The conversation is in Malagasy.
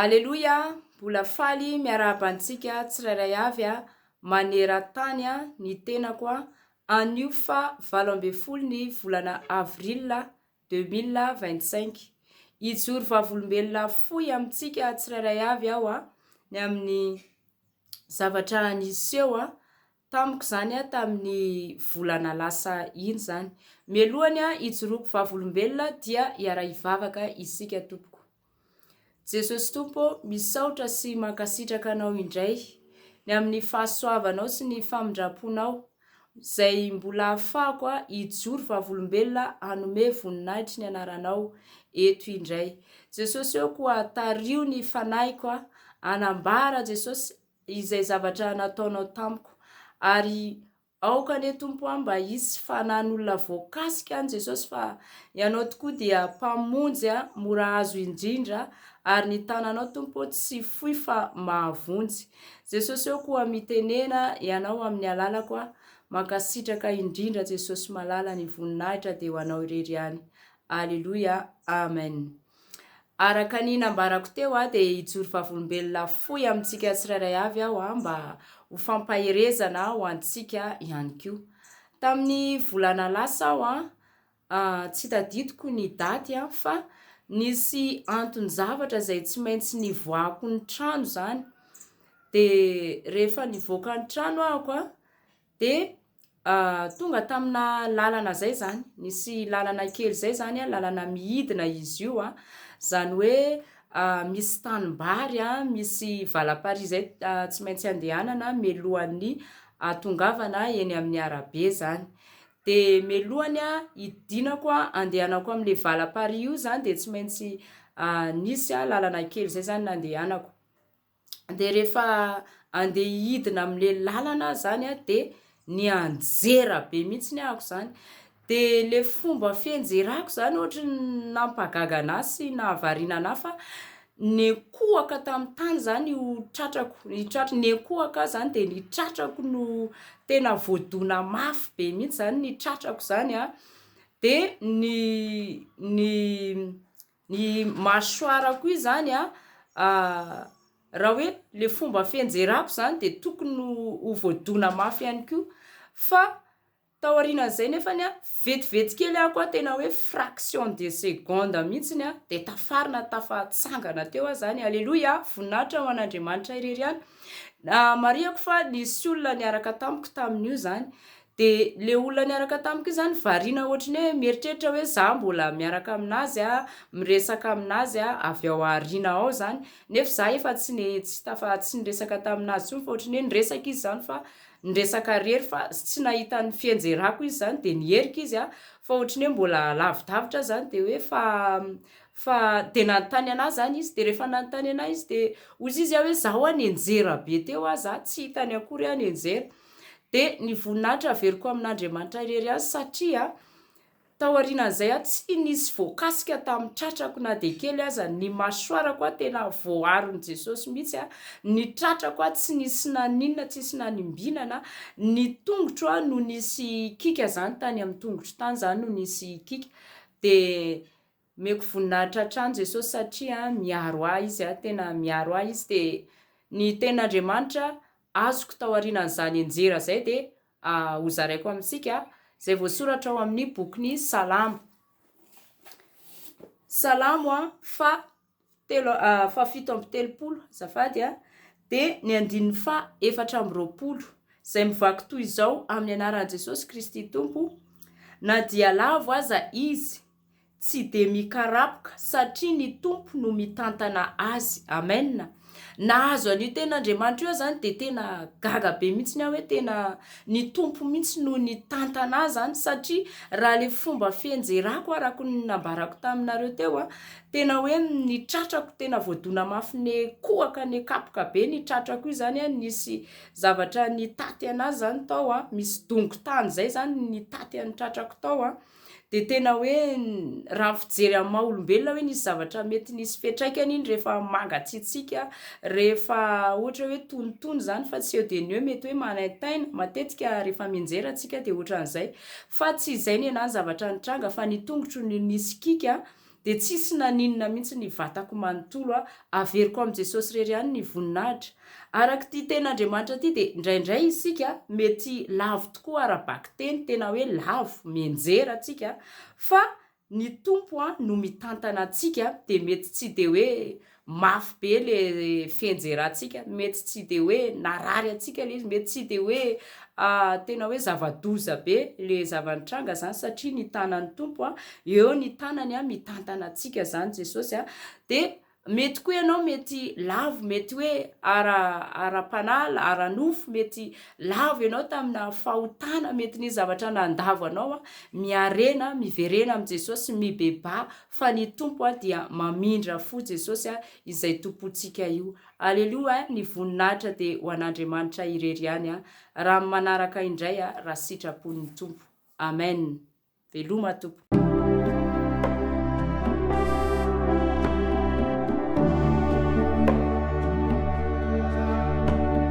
Aleloia mbola faly miarahaba antsika tsirairay avy a maneran-tany a ny tenako a anio fa valo ambin'ny folo ny volana avril deux mille vingt cinq hijoro vavolombelona fohy amintsika tsirairay avy aho a ny amin'ny zavatra niseho a Tamiko izany an, tamin'ny volana lasa iny izany. Mialohan'ny hijoroako vavolombelona dia hiara-hivavaka isika tompoko. Jesosy Tompo ô, misaotra sy mankasitraka Anao indray ny amin'ny fahasoavanao sy ny famindram-ponao izay mbola ahafahako hijoro vavolombelona hanome voninahitry ny Anaranao eto indray. Jesosy ô, koa tario ny fanahiko hanambara Jesosy izay zavatra nataonao tamiko. Ary aoka anie Tompo aho mba hisy fanan'olona voakasika any Jesosy fa Ianao tokoa dia Mpamonjy mora azo indrindra ary ny tananao Tompo tsy fohy fa mahavonjy. Jesosy ô koa mitenena Ianao amin'ny alalako aho. Mankasitraka indrindra Jesosy malala ny voninahitra dia ho Anao irery ihany. Aleloia. Amen. Araka ny nambarako teo aho dia hijoro vavolombelona fohy amintsika tsirairay avy aho aho mba ho fampaherezana ho antsika ihany koa. Tamin'ny volana lasa aho an, ah, tsy tadidiko ny daty an, fa nisy anton-javatra izay tsy maintsy nivoahako ny trano izany, dia rehefa nivoaka ny trano ahako an, dia Tonga tamina lalana zay zany, nisy lalana kely zay zany a, lalana midina izy io a, zany hoe misy tanimbary a, misy valaparihy zay tsy maintsy andehanana mialohan'ny ahatongavana eny amin'ny arabe zany, de mialohan'ny a hidinako a andehanako amle valaparihy io zany de tsy maintsy nisy a lalana kely zay zany nandehanako. dia rehefa andeha hidina amin'le lalana aho zany a de nianjera be mihitsy ny ahako zany de le fomba fianjerako zany ohatry ny nampagaga anah sy nahavariana anah fa nekohaka tamin'ny tany zany io tratrako ny tratr- nekohaka aho zany de ny tratrako no tena voadona mafy be mihitsy zany ny tratrako zany a de ny ny Ny mâchoire koa izany a, raha hoe le fomba fienjerako izany dia tokony ho ho voadona mafy ihany koa, fa taorianan'izay nefany a, vetivety kely aho koa tena hoe fraction de seconde mihitsiny a, dia tafarina tafatsangana teo aho izany, aleloia a, voninahitra ho an'Andriamanitra irery ihany, marihako fa nisy olona niaraka tamiko tamin'io izany. Dia le olona niaraka tamiko io zany variana ohatry ny hoe mieritreritra hoe za mbola miaraka aminazy a, miresaka aminazy a, avy ao aoriana ao zany, nefa za efa tsy ne tsy tafa tsy niresaka taminazy tsony fa ohatry ny hoe niresaka izy zany fa niresaka rery fa tsy nahita ny fienjerako izy zany de niherika izy a, fa ohatry ny hoe mbola lavidavitra zany de hoe fa fa de nanontany anahy zany izy de refa nanontany anahy izy de ozy izy a hoe za hoa nenjera be teo hoa za tsy hitany akory ah nenjera dia ny voninahitra averiko amin'Andriamanitra irery ihany satria tao aorianan'izay aho tsy nisy voakasika tamin'ny tratrako na dia kely aza, ny masoarako aho tena voaaron'i Jesosy mihitsy, ny tratrako aho tsy nisy naninona, tsy nisy nanimbinana, ny tongotro aho no nisy kiaka zany tany amin'ny tongotro tany zany no nisy kiaka dia Omeko voninahitra hatrany Jesosy satria miaro ahy Izy, tena miaro ahy Izy dia ny tenin'Andriamanitra azoko taorianan'izany enjera izay dia hozaraiko amintsika izay voasoratra ao amin'ny bokin'ny Salamo, Salamo fa telo fahafito amby telopolo azafady a dia ny andininy faha efatra amby roapolo izay mivaky toy izao amin'ny anaran'i Jesosy Kristy Tompo na dia lavo aza izy tsy dia mikarapoka satria ny Tompo no mitantana azy amen nahazo an'io tena Andriamanitra io zany dia tena gaga be mihitsy ny aho hoe tena ny Tompo mihitsy no ny tantana azy zany satria raha le fomba fienjerako arako ny nambarako taminareo teo a Tena hoe ny tratrako tena voadona mafy ne kohaka ne kapoka be ny tratrako io zany a nisy zavatra nitaty anazy zany tao a misy dongo tany zay zany nitaty an'ny tratrako tao a de tena hoe raha ny fijery amin'ny maha olombelona hoe nisy zavatra mety nisy fiantraikany iny rehefa mangatsiatsiaka rehefa ohatra hoe tonitony zany fa tsy eo de ny eo mety hoe manaintaina matetika rehefa mianjera antsika de ohatran'izay fa tsy izay ny anahy ny zavatra nitranga fa ny tongotro no nisy kiaka dia tsisy naninona mihitsy ny vatako manontolo a! Averiko amin'i Jesosy irery ihany ny voninahitra. Araka ity tenin'Andriamanitra ity dia indraindray isika mety lavo tokoa ara-bakiteny, tena hoe lavo, mianjera tsika, fa ny Tompo no mitantana antsika dia mety tsy dia hoe mafy be le fienjerantsika, mety tsy de hoe narary antsika le izy, mety tsy de hoe tena hoe zava-doza be le zava-nitranga zany satria ny tanan'ny Tompo a, eo ny tanany a mitantana antsika zany Jesosy a, de mety koa ianao mety lavo, mety hoe ara ara-panahy, ara-nofo, mety lavo ianao tamina fahotana, mety nisy zavatra nandavo anao a, miarena, miverena amin'i Jesosy, mibebaha, Fa ny Tompo a dia mamindra fo Jesosy a izay Tompontsika io Alelou a ny voninahitra de ho an'Andriamanitra irery ihany a raha ny manaraka indray a raha sitrapon'ny Tompo Amen Veloma Tompo.